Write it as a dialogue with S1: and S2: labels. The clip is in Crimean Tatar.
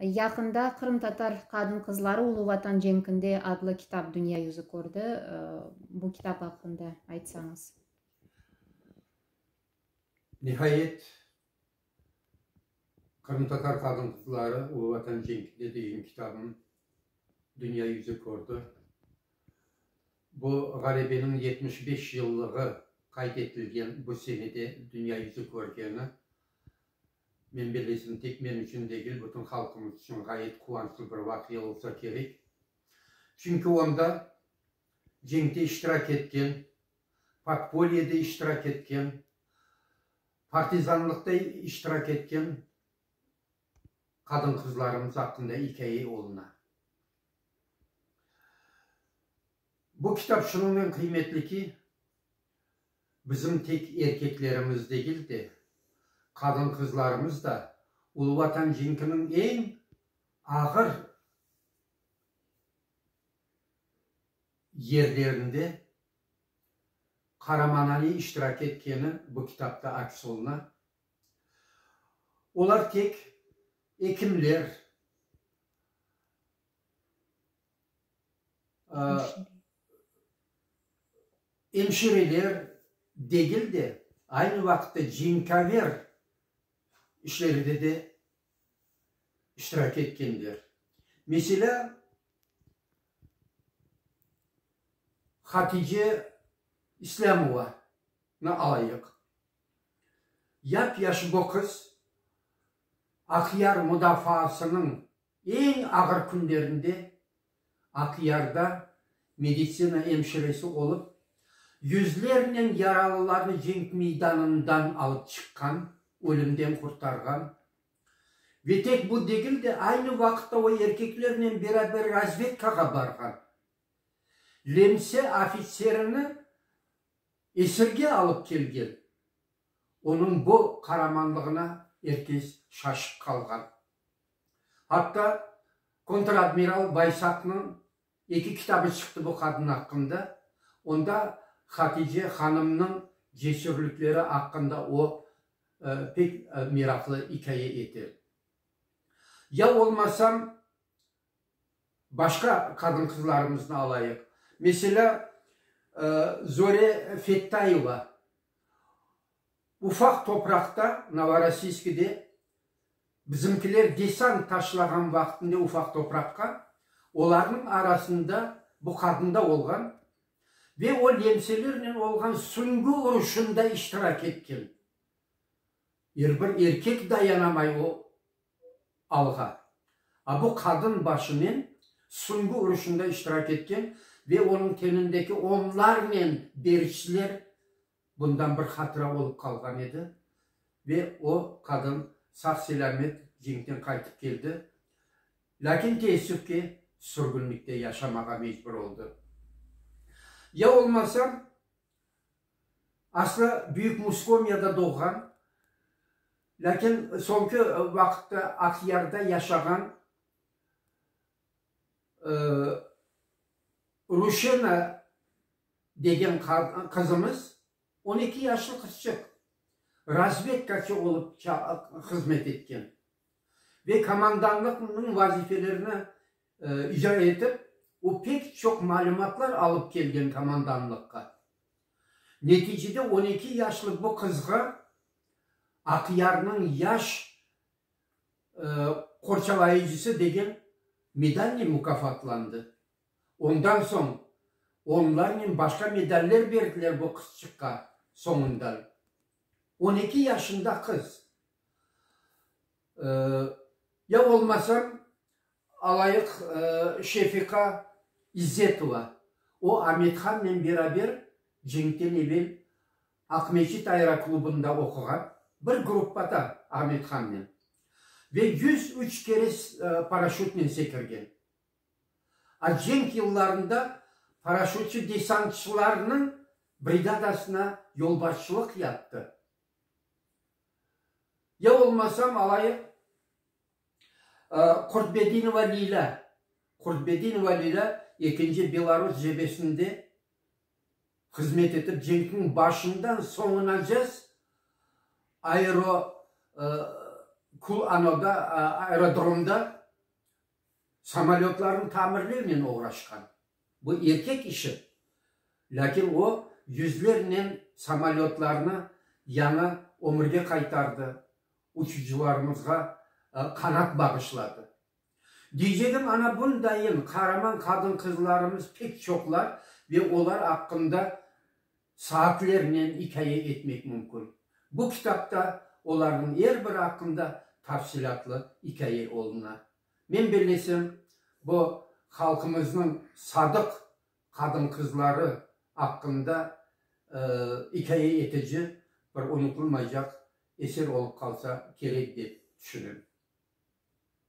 S1: Yaqında Qırımtatar qadın-qızları Ulu Vatan cenkinde adlı kitap dünya yüzü kördi. Bu kitap aqqında aytsañız.
S2: Nihayet, Qırımtatar qadın-qızları Ulu Vatan cenkinde degen kitabım dünya yüzü kördi. Bu, ğalebeniñ yetmiş beş yıllığı qayd etilgen bu senede dünya yüzü körgeni Men belesem, tek men içün degil, bütün halqımız içün ğayet quvançlı bir vaqia olsa kerek. Çünki onda cenkte iştirak etken, podpolyede iştirak etken, partizanlıqta iştirak etken qadın-qızlarımız aqqında ikâye oluna. Bu kitap şunıñnen qıymetli ki, bizim tek erkeklerimiz degil de, qadın-qızlarımız da Ulu Vatan cenkiniñ eñ ağır yerlerinde qaramanane iştirak etkeni bu kitapta aks oluna. Olar tek ekimler, Emşireler degil de, aynı vaqıtta cinkaver işleride de iştirak etkenler. Meselâ, Hatice İslâmovanı alayıq. Yap-yaşı bu qız Aqyar mudafaasınıñ Eñ ağır künlerinde Aqyarda meditsina emşiresi olıp, yüzlernen yaralılarnı cenk meydanından alıp çıqqan, ölümden qurtarğan ve tek bu degil de, aynı vaqıtta o erkeklernen beraber razvedkağa barğan Lemse ofitserini esirge alıp kelgen. Onıñ bu qaramanlığına er kes şaşıp qalğan. Atta kontradmiral Baysaqnıñ eki kitabı çıqtı bu qadın aqqında. Onda Hatice hanımnıñ cesürlikleri aqqında o, pek meraqlı ikâye ete. Ya olmasam, Başqa qadın-qızlarımıznı alayıq. Meselâ, Zore Fettayeva ufaq topraqta, Novorossiyskide, bizimkiler desant taşlağan vaqtında ufaq topraqqa, olarnıñ arasında bu qadın da olğan ve o lemselernen olğan süñgi uruşında iştirak etken. Er bir erkek dayanamay o alğa. A bu qadın başınen süngü uruşında iştirak etken ve onıñ tenindeki onlarnen beriçler bundan bir hatıra olıp qalğan edi. Ve o qadın sağ-selâmet cenkten qaytıp keldi. Lâkin teessüf ki, sürgünlikte yaşamağa mecbur oldı. Ya olmasa, Aslı Büyük Muskomyada doğğan, lâkin soñki vaqıtta Aqyarda yaşağan Ruşena degen qızımız, on eki yaşlı qızçıq, razvedkaçı olıp hızmet etken ve komandanlıqnıñ vazifelerini İcra etip, o pek çoq malümatlar alıp kelgen komandanlıqqa. Neticede on eki yaşlı bu qızğa Aqyarnıñ yaş qorçalayıcısı degen medalnen mukafatlandı. Ondan soñ onlarnen başqa medaller berdiler bu qızçıqqa soñundan. On eki yaşında qız. Ya olmasam, Alayıq Şefiqa İzzetova. O, Amethannen beraber cenkten evel Aqmescit aeroklubında oquğan, bir gruppada Amethannen, ve yüz üç kere paraşütnen sekirgen. A Cenk yıllarında paraşütçi-desantçılarnıñ brigadasına yolbaşçılıq yaptı. Ya olmasam, alayıq. Kurtbedinova Lilâ Kurtbedinova Lilâ ekinci Belarus cebesinde hızmet etip, cenkniñ başından soñunacez aero kulanoda, aerodromda samolötlarnı tamirlevnen oğraşqan. Bu erkek işi, lâkin o, yüzlernen samolötlarnı yañı ömürge qaytardı, Uçucılarımızğa qanat bağışladı. Diyceğim, ana bundayın qaraman qadın-qızlarımız pek çoqlar ve olar aqqında saatlernen ikâye etmek mümkün. Bu kitapta olarnıñ er biri aqqında tafsilâtlı ikâye oluna. Men bellesem, bu halqımıznıñ sadıq qadın-qızları aqqında ikâye etici bir unutılmaycaq eser olıp qalsa kerek dep tüşünem.